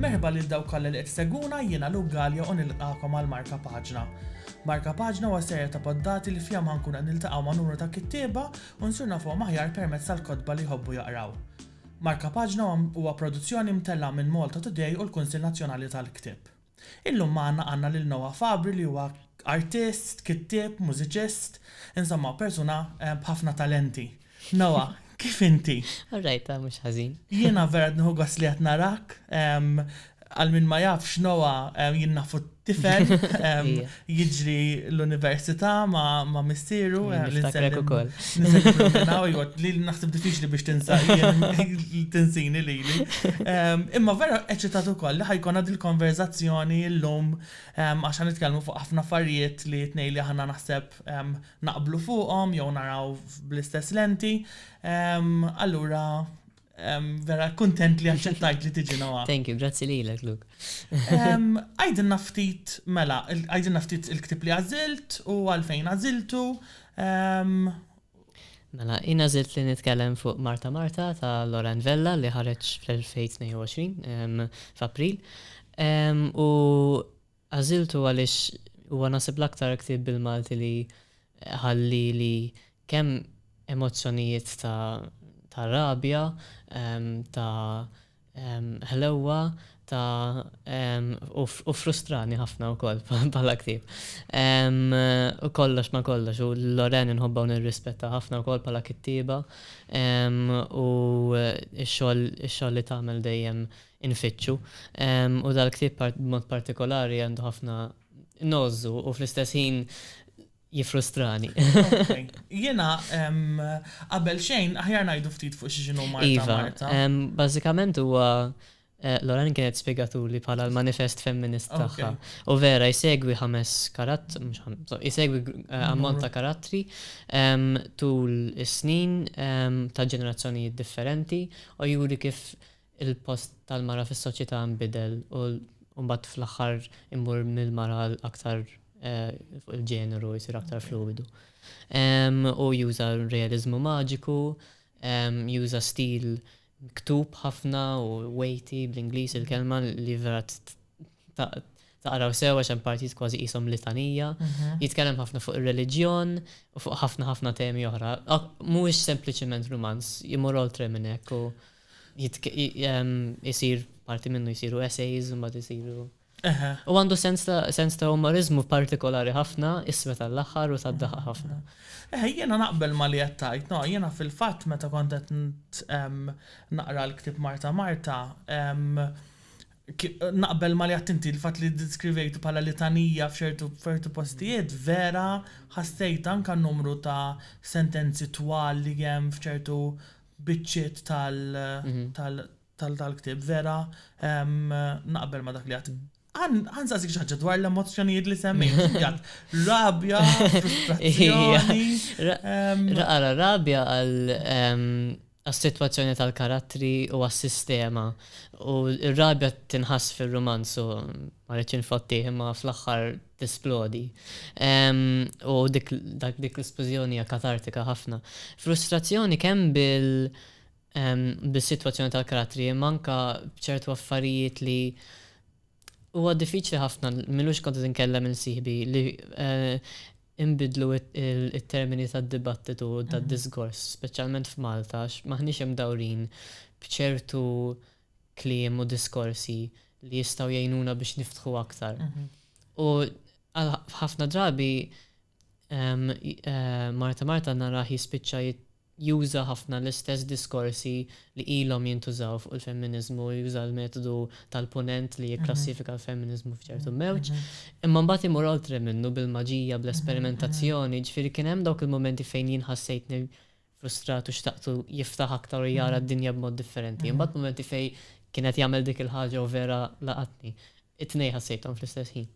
Merħba lil dawk kollha li qed seguna jiena Luke Gallia u nilqakom għal Marka Paġna. Marka Paġna huwa serja ta' poddati li fihom ħankun qed niltaqgħu ma' numru ta' kittieba u nsir nafuhom aħjar permezz tal-kotba li jħobbu jaqraw. Marka Paġna huwa produzzjoni mtellgħa minn Malta Today u l-Kunsill Nazzjonali tal-Ktieb. Illum magħna għandna lil Noah Fabbri li huwa artist, kittieb, mużiċist, insomma persuna b'ħafna talenti. Noah, kif inti? All right, mhux ħażin. Jiena vera qed nieħu gost li qed narak. Għal min ma jafx Noah jien nafu t-tifel. jiġri l-università ma' missieru. Niftakrek ukoll. Niftakrek minn hawn, iva, li naħseb diffiċli biex tinsa tinsini lili. Imma vera eċitat ukoll li ħa jkollna dil-konverżazzjoni llum għax ħa nitkellmu fuq ħafna affarijiet li t-tnejn li aħna naħseb naqblu fuqhom jew naraw bl-istess lenti. Allura Vera, kontent li għacċettajt li tiġi nawa. Thank you, grazzi li l-ek, Luke. Għajdin naftit, mela, għajdin naftit il-ktib li għazilt u għalfejn għaziltu. Mela, jina għazilt li nitkellem fuq Marta Marta ta' Loran Vella li ħareċ fl-2022 f'April. U Għażiltu għaliex huwa naħseb l-aktar ktieb bil-Malti li ħa lili kemm emozzjonijiet ta' ta' rabja, ta' ħlewwa, ta' u ffrustrani ħafna wkoll bħala ktieb. U kollox ma' kollox, u lil Lorraine inħobbha u nirrispettha ħafna wkoll bħala kittieba u x-xogħol ix-xogħol li tagħmel dejjem infittxu. U dal-ktieb b'mod partikolari għandu ħafna nogħżżu u fl-istess ħin jiffrustrani. Jiena qabel xejn aħjar ngħidu ftit fuq xi x'inhu Marta Marta. Iva, bażikament huwa Loren kienet spjegatuli bħala l-manifest femminist tagħha. U vera jsegwi ħames karattri, mhux ħames, jsegwi ammont ta' karattri tul is-snin ta' ġenerazzjonijiet differenti u juri kif il-post tal-mara fis-soċjetà nbidel u mbagħad fl-aħħar immur mill-mara għal aktar fuq il-ġeneru jsir aktar fluwidu. U juża realiżmu maġiku, juża stil miktub ħafna u weighty bl-Ingliż il-kelma li vera taqraw sew għax hemm partijiet kważi qishom litanija. Jitkellem ħafna fuq ir-reliġjon u fuq ħafna ħafna temi oħra. Mhuwiex sempliċement rumanz, imur oltre minn hekk u. isir parti minnu jsiru essays, mbagħad isiru. U għandu sens ta' umorizmu partikolari ħafna, isma tal-aħħar u tad-daħaq ħafna. Eħe, jiena naqbel ma li qed tgħid, no, jiena fil-fatt meta kont qed naqra l-ktieb Marta Marta, naqbel ma li qed inti l-fatt li ddiskrivejtu bħala litanija f'ċertu postijiet vera ħassejt anke n-numru ta' sentenzi twal li hemm f'ċertu biċċiet tal-ktieb vera naqbel ma' dak li għedt. Ħansaqsik xi ħaġa dwar l-emozzjonijiet li semmejt. Inti għedt rabja, frustrazzjoni. Ara rabja għal għas-sitwazzjoni tal-karattri u għas-sistema. U r-rabja tinħass fir-rumanz u ma rridx infottih imma fl-aħħar tisplodi. U dik l-isplużjoni hija katartika ħafna. Frustrazzjoni kemm bil bis-sitwazzjoni tal-karattri imma anke b'ċertu affarijiet li huwa diffiċli ħafna, m'ilux kont qed inkellem lil sieħbi li inbiddlu t-termini tad-dibattitu u tad-diskors, speċjalment f'Malta għax m'aħniex imdawrin b'ċertu kliem u diskorsi li jistgħu jgħinuna biex niftħu aktar. U ħafna drabi Marta Marta narah jispiċċa juża ħafna l-istess diskorsi li ilhom jintużaw fuq il-femminiżmu, juża l-metodu tal-punent li jikklassifika mhm. l-femminiżmu f'ċertu mhm. mewġ, mhm. imma mbagħad imur oltre minnu bil-maġija, bl-esperimentazzjoni, ġifieri kien hemm dawk il-momenti fejn jien ħassejtni frustrat u xtaqtu jiftaħ aktar u jara d-dinja b'mod differenti. Imbagħad mumenti fejn kien qed jagħmel dik il-ħaġa u vera laqatni. It-tnejn ħassejthom fl-istess ħin.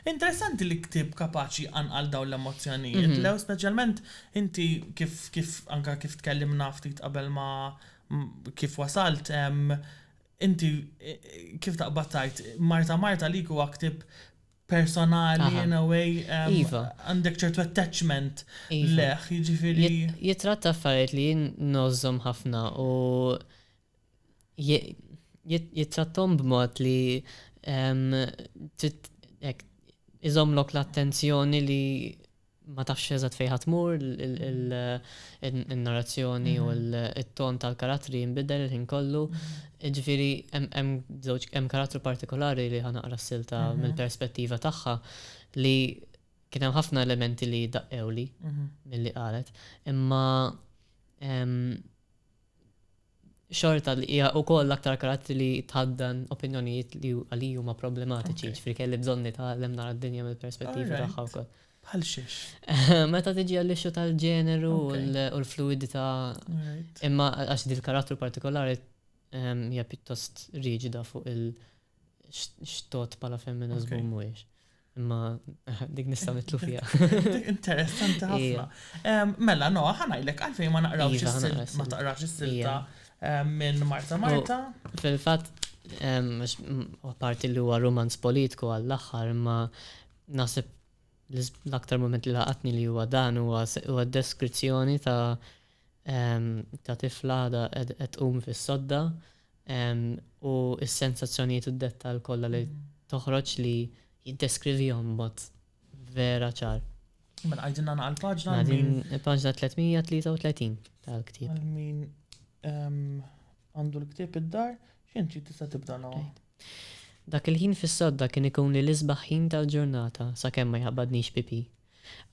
Interessanti li ktieb kapaċi jqanqal dawn l-emozzjonijiet, Leo, speċjalment inti kif kif anke kif tkellimna ftit qabel ma kif wasalt, inti kif taqbad tgħid, Marta Marta għalik huwa ktieb personali in a way għandek ċertu attachment lejh, jiġifieri. Jitratta affarijiet li jien ngħożżhom ħafna u jittratthom b'mod li iżommlok l-attenzjoni li ma tafx eżatt fejn ħa tmur, in-narrazzjoni u t-ton tal-karattri jinbidel il-ħin kollu. Jiġifieri hemm żewġ, hemm karattru partikolari li ħa naqra s-silta mill-perspettiva tagħha li kien hemm ħafna elementi li daqqewli milli qalet. Imma xorta li hija wkoll l-aktar karattri li tħaddan opinjonijiet li għaliji huma problematiċi, jiġifieri kelli bżonn nitgħallem nara d-dinja mill-perspettiva tagħha wkoll. Bħal xiex? Meta tiġi għall-ixxu tal-ġeneru u l-fluidità, imma għax dil-karattru partikolari hija pjuttost riġida fuq il- x'tot bħala femminist u mhuwiex. Imma dik nista' nitlu fiha. Interessanti ħafna. Mela, no, ħanajlek għalfejn ma naqrawx iva, is-silta, ma taqrax is-silta minn Marta Marta. Fil-fatt, apparti li huwa romanz politiku għall-aħħar, imma naħseb l-aktar moment li laqatni li huwa dan huwa deskrizzjoni ta' ta' tifla għadha qed tqum fis-sodda u s-sensazzjonijiet u d-dettall kollha li toħroġ li jiddeskrivihom b'mod vera ċar. Mela għidilna naqra l-paġna. Mela din il-paġna 333 tal-ktieb. Għal min għandu l-ktieb id-dar, x'int trid tista' tibda nawa. Dak il-ħin fis-sodda kien ikun li l-isbaħ ħin tal-ġurnata sakemm ma jħabbadnix pipi.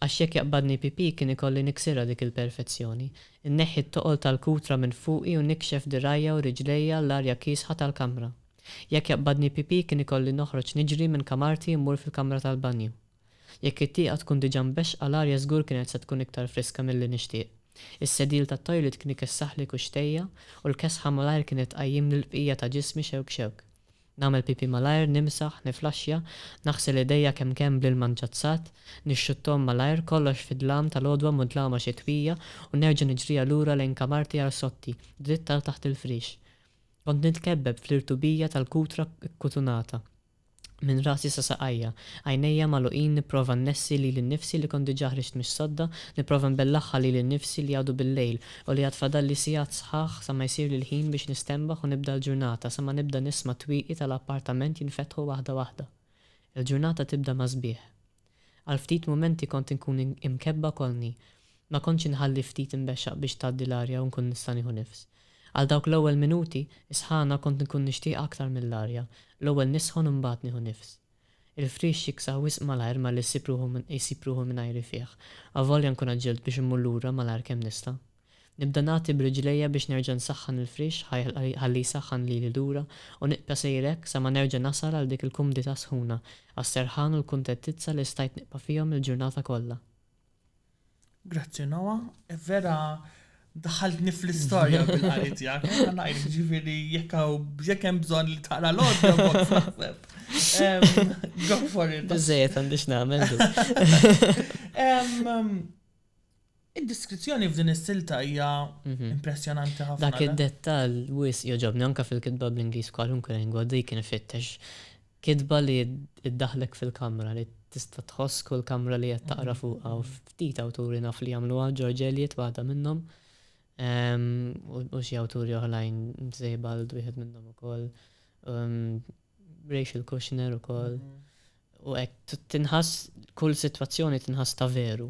Għax jekk jaqbadni PP kien ikolli niksirha dik il-perfezzjoni. Inneħħi t-toqol tal-kutra minn fuqi u nikxef dirgħajja u riġlejja l-arja kiesħa tal-kamra. Jekk jaqbadni PP kien ikolli noħroġ niġri minn kamarti mmur fil-kamra tal-banju. Jekk it-tieqa tkun diġà mbexxqa l-arja żgur kienet se tkun iktar friska milli nixtieq. Is-sedil tat-toilet kien ikessaħli kuxxtejja u l-kesħa malajr kienet tqajjimli l-bqija ta' ġismi xewk xewk. Nagħmel pipì malajr, nimsaħ, niflaxxja, naħsel idejja kemm kemm bl-ilma mġazzat, nixxutthom malajr, kollox fid-dlam tal-għodwa mudlama xitwija u nerġa' niġrija lura lejn kamarti arsotti, dritt għal taħt il-friex. Kont nitkebbeb fl-irtubija tal-kutra kkutunata. Minn rasi sa saqajja, għajnejja magħluqin nipprova nnessi lili nnifsi li kont diġà ħriġt mix-sodda, nipprova nbellaħħa lili nnifsi li għadu bil-lejl U li għad fadalli sigħat sħaħ sa ma jsirli l-ħin biex nistenbaħ u nibda l-ġurnata sa ma nibda nisma' t-twieqi tal-appartament jinfetħu waħda waħda. Il-ġurnata tibda mas-sbieħ. Għal ftit mumenti kont inkun imkebbha kollni. Ma kontx inħalli ftit inbexxaq biex tgħaddi l-arja u nkun nista' nieħu nifs. Għal dawk l-ewwel minuti, is-sħana kont inkun nixtieqha aktar mill-arja. L-ewwel nisħon u mbagħad nieħu nifs. Il-friex jiksa wisq malajr malli jsib ruħu jsib ruħu mingħajri fih, avolja nkun għaġġilt biex immur lura malajr kemm nista'. Nibda nagħti b'riġlejja biex nerġa' nsaħħan il-friex ħalli jsaħħan lili lura u nibqa' sejjer hekk sa ma nerġa' nasal għal dik il-kumdità sħuna għas-serħan u l-kuntettizza li stajt nibqa' fihom il-ġurnata kollha. Grazzi Noa, vera daħaltni fl-istorja bil-qari tiegħek. Għandna ngħid ġifieri jekk jekk hemm bżonn li taqra l-għodja naħseb. Go for it. Biżejjed għandix nagħmel. Id-diskrizzjoni f'din is-silta hija mhm. impressjonanti ħafna. Dak id-dettall wis joġobni anke fil-kitba bl-Ingliż kwalunkwe lingwa dik kien ifittex Kitba li ddaħħlek fil-kamra, li tista' tħoss kull kamra li qed taqra fuqha u ftit awturi naf li jagħmluha, George Eliot waħda minnhom, u xi awturi oħrajn, Sebald wieħed minnhom ukoll, Rachel Kushner ukoll, u hekk, tinħass, kull sitwazzjoni tinħass ta' veru.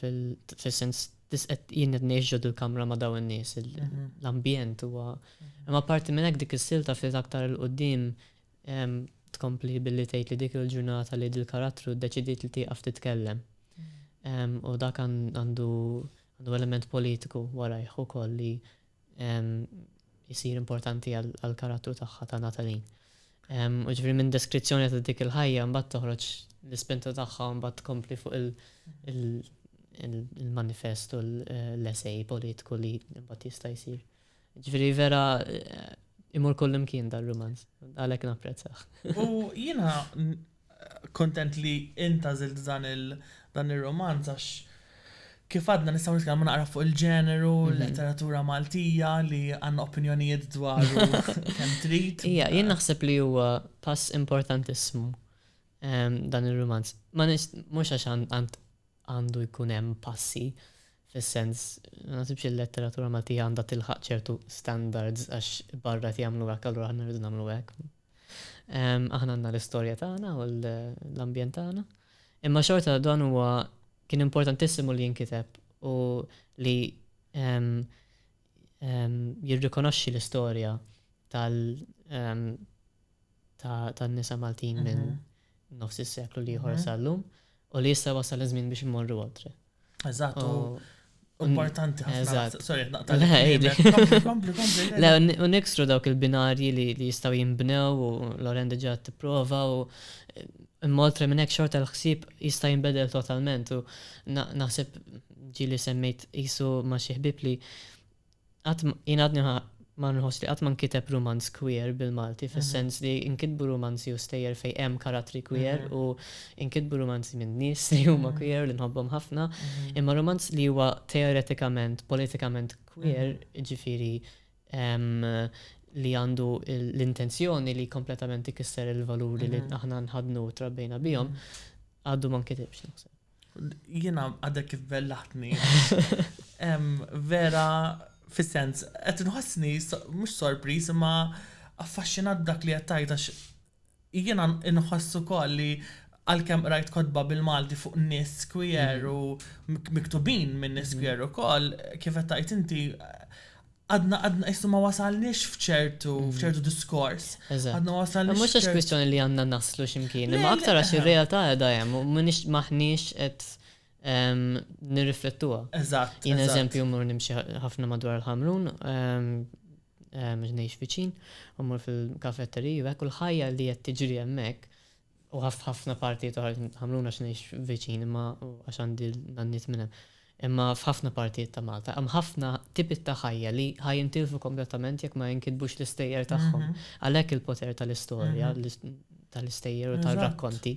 fil-sens jien qed ngħix ġod il-kamra ma' dawn in-nies, mhm. l-ambjent huwa. Mhm. Imma parti minn hekk dik is-silta fil aktar il qudiem tkompli billi tgħid li dik il-ġurnata li dil-karattru ddeċidiet li tieqaf titkellem. Mhm. U dak għandu element politiku warajh ukoll li isir importanti għall-karattru tagħha ta' Natalie. U ġifieri minn deskrizzjoni ta' dik il-ħajja mbagħad toħroġ l-ispinta tagħha mbagħad tkompli fuq il-manifest u l-essej politiku li mbagħad jista' jsir. Ġifieri vera eh, imur kullimkien dar-rumanz, għalhekk napprezzah. U jiena Kuntent li int għażilt dan il, dan ir-rumanz għax kif għadna nistgħu nitkellmu naqra fuq il-ġeneru, l-letteratura Maltija li għandna opinjonijiet dwaru kemm trid. Ija, jien naħseb li huwa pass importantissimu dan ir-rumanz. Ma nix, mhux għax għand għandu jkun hemm passi fis-sens, ma naħsibx il-letteratura Maltija għandha tilħaq ċertu standards għax barra qed jagħmlu hekk allura aħna rridu nagħmlu hekk. Aħna għandna l-istorja tagħna u l-ambjent tagħna. Imma xorta dan huwa kien importantissimu li jinkiteb u li jirrikonoxxi l-istorja tal-nisa Maltin minn mhm. nofs is-seklu li ieħor sal-lum, u li issa wasal iż-żmien biex immorru oltre. Eżatt, importanti ħafna. Sorry, naqta' Le, u nikstru dawk il-binarji li jistaw jimbnew u Loren diġa t-prova u moltre minn hekk xorta l-ħsieb jista' jinbedel totalment u naħseb ġili semmejt isu ma' xi ħbib li Qatt ma, jien għadni ma nħoss li qatt ma nkiteb rumanz queer bil-Malti fis-sens li nkitbu rumanzi u stejjer fejn hemm karattri queer u nkitbu rumanzi minn nies li huma queer u li nħobbhom ħafna, imma rumanz li huwa teoretikament, politikament queer, jiġifieri li għandu l-intenzjoni li kompletament ikisser il-valuri li aħna nħaddnu u trabbejna bihom, għadu ma nkitibx naħseb. Jiena għadek kif bellaħtni. Vera, fis-sens, qed nħossni mhux sorpriż imma affaxxinat dak li qed tgħid għax jiena nħoss ukoll li għalkemm qrajt kotba bil-Malti fuq nies queer mhm. u miktubin minn nies mhm. queer ukoll, kif qed tgħid inti Għadna, għadna, jissu ma wasalniex fċertu, mm. fċertu diskors. Għadna wasalniex. Mux għax kwistjoni li għanna naslu ximkien, ma aktar għax il-realtà għedha jem, u minix maħnix et nirriflettuha. Eżatt. Jien eżempju mur nimxi ħafna madwar il-ħamrun, ġnejx viċin, u mur fil-kafetteri, u għek ħajja li jett tiġri jemmek, u f'ħafna partijiet oħra ta' Ħamruna għax ngħix viċin imma għax għandi n-nanniet minn hemm. Imma f'ħafna partijiet ta' Malta hemm ħafna tipiet ta' ħajja li ħa jintilfu kompletament jekk ma jinkitbux l-istejjer tagħhom. Għalhekk il-poter tal-istorja, tal-istejjer u tar-rakkonti.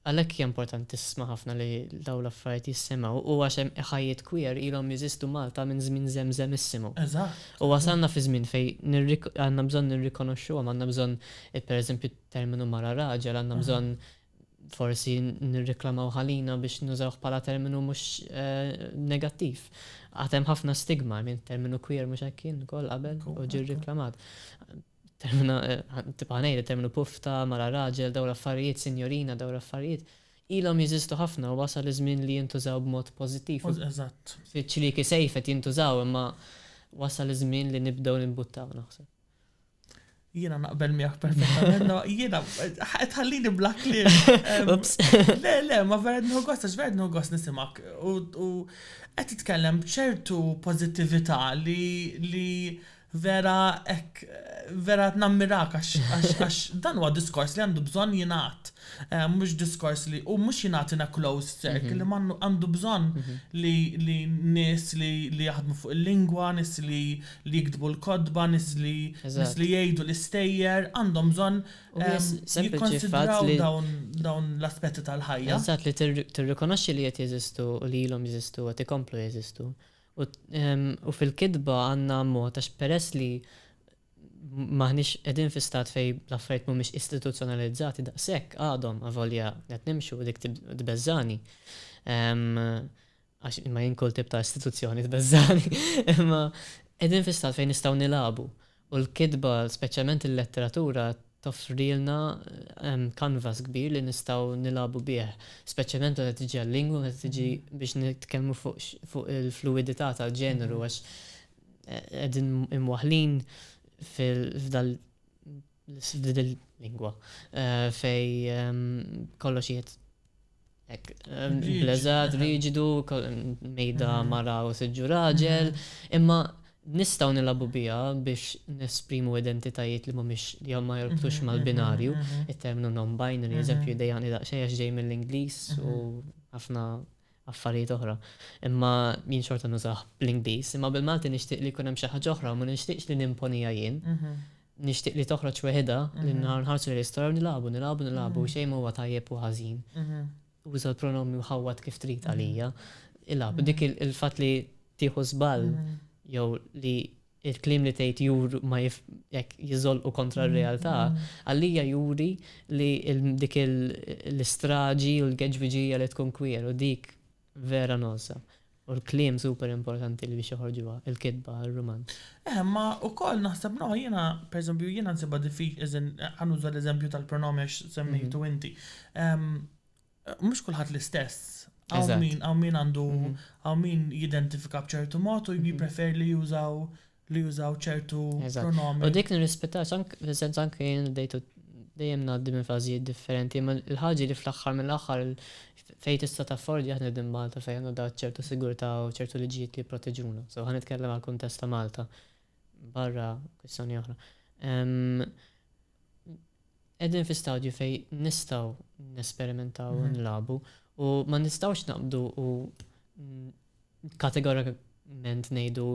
Għalhekk hija importantissima ħafna li dawn l-affarijiet jissemgħu u għax hemm ħajjiet queer ilhom jeżistu Malta minn żmien żemżemissimu. U wasalna fi żmien fejn għandna bżonn nirrikonoxxuhom, għandna bżonn pereżempju terminu mara raġel għandna bżonn forsi nirriklamaw ħalina biex nużawh bħala terminu mhux negattiv. Għad hemm ħafna stigma, I mean, terminu queer mhux hekk kien ukoll qabel u ġie rriklamat. Termina, tibqa' ngħid, terminu pufta, mara raġel, dawn l-affarijiet, sinjorina, dawn l-affarijiet, ilhom jeżistu ħafna u wasal iż-żmien li jintużaw b'mod pożittiv. Eżatt. Fiċ-ċlieki sejf qed jintużaw imma wasal iż-żmien li nibdew nimbuttaw naħseb. Jiena naqbel miegħek perfettament, no, jiena tħallini bla kliem. Le, le, ma vera nħu gost, għax vera nħu gost nisimak. U qed titkellem b'ċertu pożittività li vera ek, vera nammirak għax dan huwa diskors li għandu bżonn jingħad. Eh, mhux diskors li u mhux jingħad in a closed circle, mhm. ma għandu bżonn mhm. li nies li jaħdmu fuq il-lingwa, nies li li jiktbu l-kotba, nies li nies li jgħidu l-istejjer għandhom bżonn jikkonsidraw dawn dawn l-aspetti tal-ħajja. Eżatt, li tirrikonoxxi li qed jeżistu u li ilhom jeżistu u qed ikomplu jeżistu. U u fil-kitba għandna mod għax peress li m'aħniex qegħdin fi stat fejn l-affarijiet mhumiex istituzzjonalizzati daqshekk għadhom avolja qed nimxu u dik tbeżżagħni. għax ma jien kull tip ta' istituzzjoni tbeżżagħni, imma qegħdin fi stat fejn nistgħu nilagħbu u l-kitba, speċjalment il-letteratura, toffrilna canvas kbir li nistgħu nilagħbu bih, speċjalment meta tiġi għal-lingwa, meta tiġi biex nitkellmu fuq il-fluwidità tal-ġeneru għax qegħdin imwaħħlin f'dal l-lingwa fej kollox jiet ek blezat, riġidu, mejda mm. mara u siġġu raġel, mm. imma nistaw nilabu bija biex nesprimu identitajiet li mumiex li ma jorbtux mm-hmm, mal-binarju, mm-hmm, mm-hmm. il-terminu non-binary, eżempju, dejani daqxej għax ġej mill-Inglis u ħafna affarijiet oħra. Imma jien xorta nużah bl-Ingliż. Imma bil-Malti nixtieq li jkun hemm xi ħaġa oħra u ma nixtieqx li nimponiha jien. Nixtieq li toħroġ weħidha li nħarsu lejn l-istorja u nilagħbu, nilagħbu, nilagħbu u xejn ma huwa tajjeb u ħażin. Uża l-pronomi u ħawwad kif trid għalija. Ilgħab. Dik il-fatt li tieħu żball jew li il-kliem li tgħid jur ma jif jekk jiżolqu kontra r-realtà, għalija juri li dik l-istraġi u l-geġbiġija li tkun queer u dik vera nogħsa. U l-kliem super importanti li biex joħorġuha, il-kitba, ir-rumanz. Eh, imma wkoll naħseb no, jiena pereżempju jiena nsibha diffiċli, as in, ħa nuża l-eżempju tal-pronomi għax semmejtu inti. mhux kulħadd l-istess. Għaw min għaw min għandu mhm. għaw min jidentifika b'ċertu mod u mhm. jipprefer li jużaw li jużaw ċertu pronomi. U dik nirrispettaw sank fis-sens anke jien dejtu dejjem ngħaddi minn fażijiet differenti, ma l-ħaġi li fl-aħħar mill-aħħar fejn tista' taffordi aħna din Malta fejn għandna dat ċertu sigurtà u ċertu liġijiet li jipproteġuna. So ħan nitkellem għal kuntest ta' Malta barra kwistjoni oħra. qegħdin fi stadju fejn nistgħu nesperimentaw u nilagħbu u ma nistgħux naqbdu u kategorikament ngħidu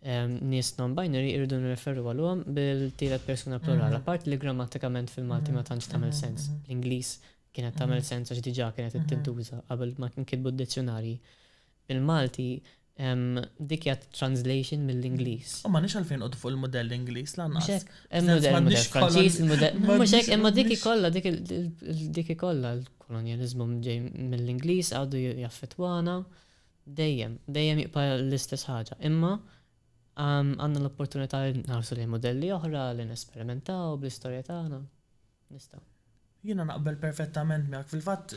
ehm, nies non-binary irridu nirreferu għalhom bil-tielet persuna plurala, mhm. part li grammatikament fil-Malti ma mhm. tantx tagħmel mhm. sens. L-Ingliż kienet tagħmel sens għax diġà kienet tintuża qabel ma kien kitbu d-dizzjonarji. Il-Malti Dik hija translation mill-Ingliż. U m'għandniex għalfejn noqogħdu fuq il-mudell Ingliż lanqas. Mhux hekk. Hemm mudell m'għandniex Franċiż, il-mudell. Mhux hekk, imma dik ikollha dik ikollha l-kolonjaliżmu ġej mill-Ingliż għadu jaffettwana dejjem, dejjem jibqa' l-istess ħaġa. Imma għandna l-opportunità li nħarsu lejn mudelli oħra, li nesperimentaw bl-istorja tagħna. Nista'. Jiena naqbel perfettament miegħek. Fil-fatt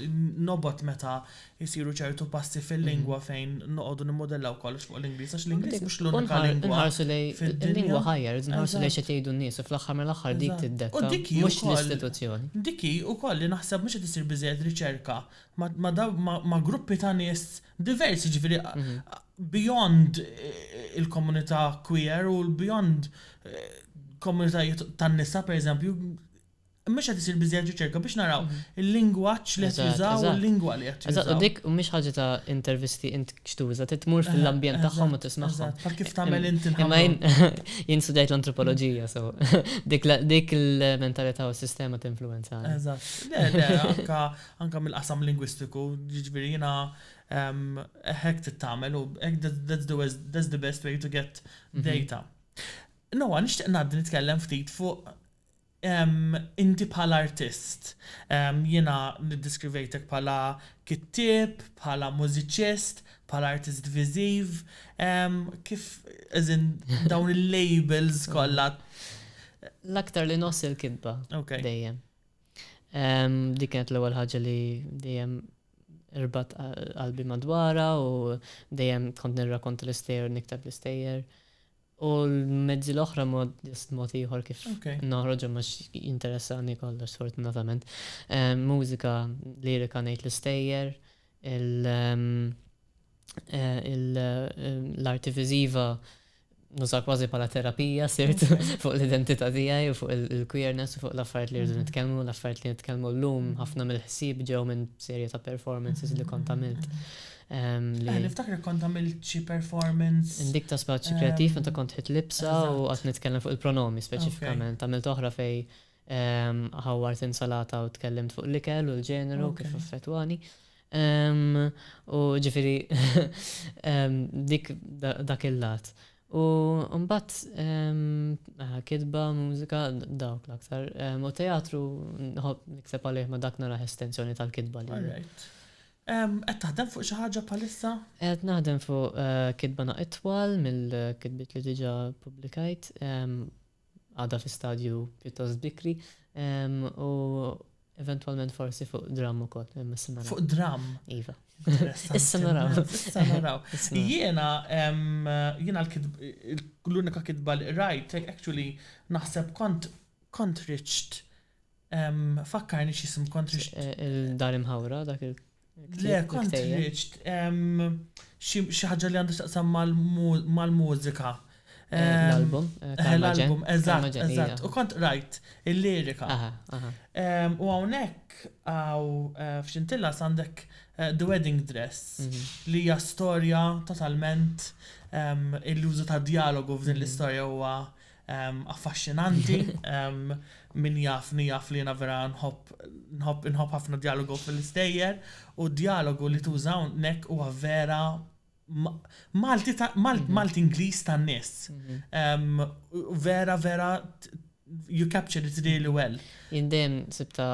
nobgħod meta jsiru ċertu passi fil-lingwa fejn noqogħdu nimmudellaw kollox fuq l-Ingliż għax l-Ingliż mhux l-unika lingwa. Inħarsu lejn il-lingwa ħajja, rridu nħarsu lejn xi qed jgħidu n-nies u fl-aħħar mill-aħħar dik tiddetta mhux l-istituzzjoni. Dik hi wkoll li naħseb mhux qed issir biżżejjed riċerka ma' gruppi ta' nies diversi ġifiri beyond eh, il-komunità queer u beyond eh, komunitajiet tan-nisa per eżempju mhux qed isir biżejjed riċerka biex naraw mhm. il-lingwaġġ li qed jużaw u l-lingwa li qed jużaw. Eżatt, dik mhix ħaġa ta' intervisti int xtuża, titmur eh, fil-ambjent tagħhom u tismagħhom. Bħal kif tagħmel int il Imma jien studjajt l-antropoloġija, so dik il-mentalità u s-sistema tinfluwenza. Eżatt. Le, le, anka anke mill-qasam lingwistiku, jiġifieri jiena hekk trid tagħmel u hekk that's the best way to get data. Noah, nixtieq ngħaddi nitkellem ftit fuq inti bħala artist. Jiena niddiskrivejtek bħala kittieb, bħala mużiċist, bħala artist viżiv, kif as in dawn il-labels kollha. L-aktar li nħoss il-kitba dejjem. Dik kienet l-ewwel ħaġa li dejjem irbat qalbi madwarha u dejjem kont nirrakonta l-istejjer u niktab l-istejjer. U l-mezzi l-oħra mod mod ieħor kif noħroġhom għax jinteressani kollox sfortunatament. Mużika lirika ngħid l-istejjer, l-arti viżiva nuża kważi bħala terapija sirt fuq l-identità tiegħi u fuq il-queerness u fuq l-affarijiet li rridu nitkellmu, l-affarijiet li nitkellmu llum ħafna mill-ħsieb ġew minn serje ta' performances li kont għamilt. Ehm, eh, niftakar kont għamilt xi performance. Indik ta' spazju kreattiv ehm, meta kont ħit libsa u qatt nitkellem fuq il-pronomi speċifikament. Għamilt oħra fej Ħawwart insalata u tkellimt fuq l-ikel u l-ġeneru kif affettwani. U ġifieri dik dak il-lat. U mbagħad kitba, mużika, dawk l-aktar. U teatru nħobb nikteb għalih ma dak naraħ estensjoni tal-kitba li. Alright. Qed taħdem fuq xi ħaġa bħalissa? Qed naħdem fuq kitba naqra itwal mill-kitbiet li diġà ppubblikajt. għadha fi stadju pjuttost bikri, u eventwalment forsi fuq dramm ukoll, imma issa naraw. Fuq dramm? Iva. Issa naraw. Issa naraw. Jiena, jiena l-unika kitba li qrajt, actually naħseb kont kont riċt Fakkarni x'isem kont riċt. Il-Dar Imħawra dak il- Le, kont riċt. Xi ħaġa li għandha x'taqsam mal-mużika. L-album. L-album, eżatt, eżatt. U kont rajt il-lirika. U hawnhekk għaw f'xintilla għandek The Wedding Dress li hija storja totalment il-użu ta' djalogu f'din l-istorja huwa affaxxinanti. Min jafni jaf li jiena vera nħobb nħobb ħafna djalogu fil-istejjer u d-djalogu li tuża hawnhekk huwa vera Malti Malti Ingliż tan-nies. Vera vera you captured it really well. Jien dejjem sibta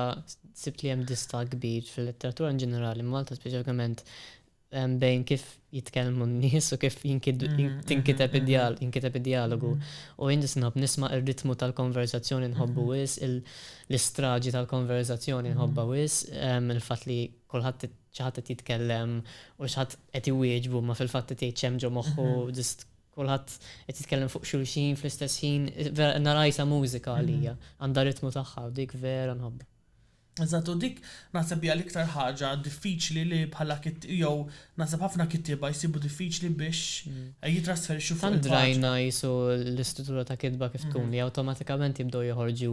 sibt li hemm dista kbir fil-letteratura in ġenerali Malta speċjalment bejn kif jitkellmu n-nies u kif jinkiteb id-dialogu. U jien nisnob nisma' r-ritmu tal-konverżazzjoni nħobbu wis, l-istraġi tal-konverżazzjoni nħobbha wis, il-fatt li kulħadd xi ħadd qed jitkellem u xi ħadd qed iwieġbu ma fil-fatt qed jgħid x'hemm ġo moħħu, ġust kulħadd qed jitkellem fuq xulxin fl-istess ħin, vera nara qisha mużika għalija, għandha ritmu tagħha u dik vera nħobbha. Eżatt, u dik naħseb hija l-iktar ħaġa diffiċli li bħala jew naħseb ħafna kittieba jsibu diffiċli biex jitrasferixxu fuq il-paġna. Tant rajna qisu l-istruttura ta' kitba kif tkun li awtomatikament jibdew joħorġu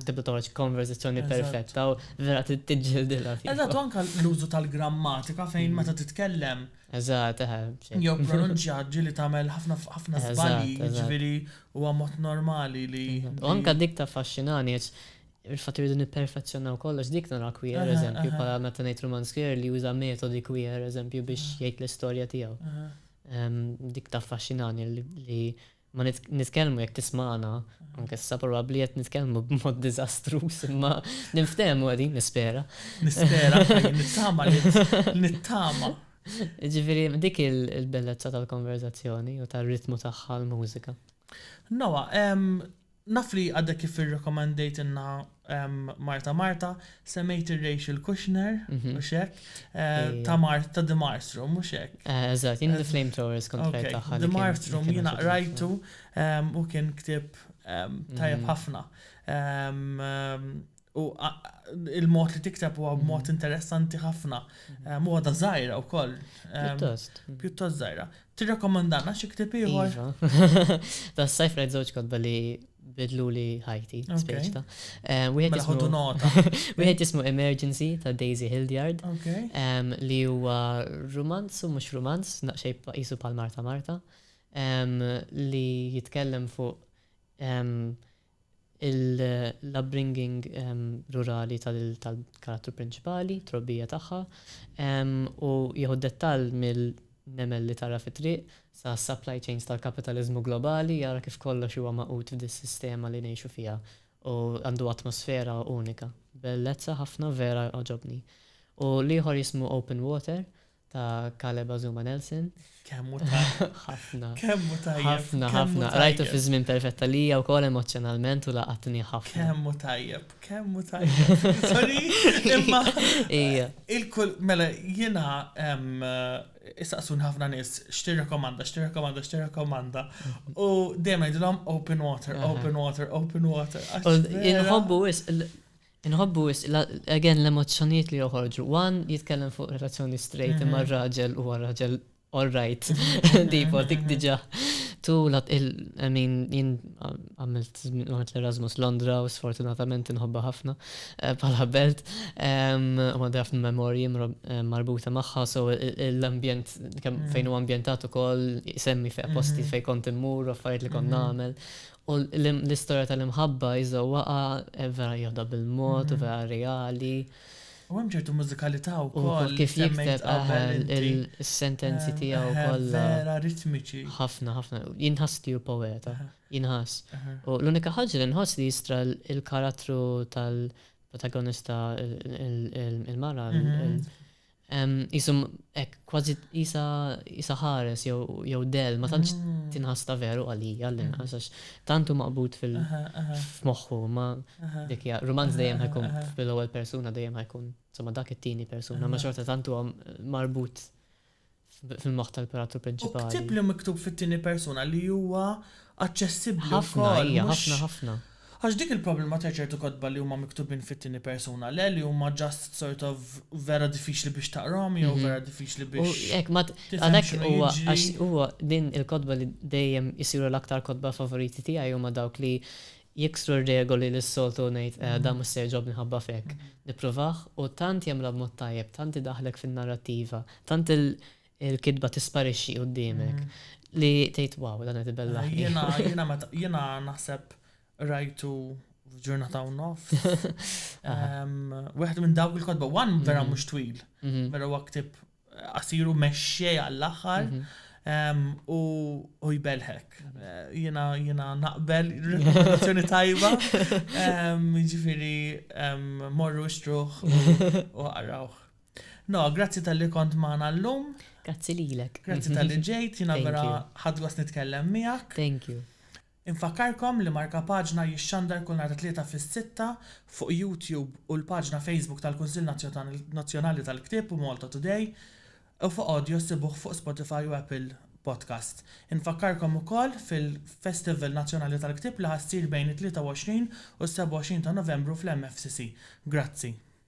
tibda toħroġ konverżazzjoni perfetta u vera trid tiġġildilha. Eżatt, u anke l-użu tal-grammatika fejn meta titkellem. Eżatt, eħe. Jew pronunċja ġieli tagħmel ħafna żbalji, jiġifieri huwa mod normali li. U anke dik taffaxxinani għax Il-fatt li rridu nipperfezzjonaw kollox, dik naraha queer, eżempju, bħala meta ngħid rumanz queer li juża metodi queer, eżempju, biex jgħid l-istorja tiegħu. Dik taffaxxinani li ma nitkellmu jekk tismana, anke sa probabbli qed nitkellmu b'mod diżastruż, imma ninftehmu qegħdin nispera. Nispera, nittama li nittama. Ġifieri dik il-bellezza tal-konverzazzjoni u tar-ritmu tagħha l-mużika. Noa, Naf li għadek kif irrekomendejtilna Marta Marta, semmejt ir-Rachel Kushner, mhux hekk? Ta' Mar, ta' The Marthroom, mhux hekk? Eżatt, jien The Flamethrowers kont qrajt tagħha. The Marthroom jiena qrajtu u kien ktieb tajjeb ħafna. U il-mod li tikteb huwa b'mod mm. interessanti ħafna. Mm. Huwa ta' żgħira wkoll. Pjuttost. Pjuttost żgħira. Tirrakkomandana xi ktieb ieħor? Iva. Ta' sajf rajt żewġ kotba li bidlu li ħajti, speċ ta' Wieħed jismu nota. Wieħed jismu Emergency ta' Daisy Hildyard. Li huwa romanz u mhux romanz, naqxej qisu pal Marta Marta, li jitkellem fuq l-upbringing rurali tal-karattru prinċipali, t-trobbija tagħha, u jieħu d-dettall mill-nemel li tara fit-triq sas-supply chains tal-kapitaliżmu globali, jara kif kollox huwa magħqud f'dis-sistema li ngħixu fiha u għandu atmosfera unika. Bellezza ħafna, vera għoġobni. U l-ieħor jismu Open Water, ta' Caleb Azuma Nelson. Kemmu tajjeb. Ħafna. Kemmu tajjeb. Ħafna, ħafna. Rajtu fi żmien perfetta li hija wkoll emozzjonalment u laqatni ħafna. Kemmu tajjeb, kemmu tajjeb. Sorry, imma. Ija. Il-kull, mela, jiena issaqsun ħafna nies x'tirrekomanda, x'tirrekomanda, x'tirrekomanda. U dejjem ngħidilhom open water, open water, open water. Inħobbu wis Inħobbu wisq again l-emozzjonijiet li joħorġu. One jitkellem fuq relazzjoni straight imma r-raġel huwa raġel all right. Tipo dik diġà. Tu lat il I mean jien għamilt għamilt l-Erasmus Londra u sfortunatament inħobba ħafna bħala belt. U għandi ħafna memorji marbuta magħha so l-ambjent kemm fejn huwa ambjentat ukoll isemmi fejn posti fejn kont immur u affarijiet li kont nagħmel U l-istorja tal-imħabba jżewwaqha vera jieħdha bil-mod u vera reali. U hemm ċertu mużikalità wkoll li semmejt qabel inti. U kif jikteb is-sentenzi tiegħu kollha. Vera ritmiċi. Ħafna, ħafna. Jinħass li hu poeta. Jinħass. U l-unika ħaġa li nħoss li jistra l-karattru tal-protagonista, il-mara, Jisum, ek, kważi jisa, jisa ħares jew del, ma tantx ah. tinħas ta' veru għalija l inqas għax tantu maqbut fil-moħħu, ma dikja, romanz dejjem ħajkun fil-ewwel persuna dejjem ħajkun, insomma dak it-tieni persuna, ma xorta tantu marbut fil-moħħ tal-Imperatur Prinċipali. U ktieb li miktub fit-tieni persuna li huwa aċċessibbli wkoll. Ħafna, hija, ħafna, ħafna. Għax dik il-problema ta' ċertu kotba li huma miktubin fit-tieni persuna, le li huma just sort of vera diffiċli biex taqrahom jew vera diffiċli biex. U hekk ma għalhekk huwa għax huwa din il-kotba li dejjem isiru l-aktar kotba favoriti tiegħi huma dawk li Jiksru r-regoli li s-soltu ngħid qiegħda mhux se jogħġobni ħabba f'hekk. Nippruvah u tant jagħmilha b'mod tajjeb, tant idaħħlek fin-narrattiva, tant il-kitba tisparixxi quddiemek li tgħid wow dan qed ibellaħni. Jiena jiena meta jiena naħseb qrajtu f'ġurnata u nofs. Wieħed minn dawk il-kotba one vera mhux twil, vera huwa ktieb qasir u mexxej għall-aħħar u u jbelħek. Jiena jiena naqbel rekomendazzjoni tajba. Ġifieri morru xtruħ u għarawħ. No, grazzi tal-li kont maħna l-lum. Grazzi lilek. Grazzi tal-li ġejt, jina vera ħadgos nitkellem miegħek. Thank you. Infakkarkom li Markapaġna jixxandar kull nhar it-Tlieta fis-sitta fuq YouTube u l-paġna Facebook tal-Kunsill Nazzjonali tal-Ktieb u Malta Today u fuq Audio ssibuh fuq Spotify u Apple Podcast. Infakkarkom ukoll fil-Festival Nazzjonali tal-Ktieb li ħa ssir bejn it-23 u s-27 ta' Novembru fl-MFCC. Grazzi.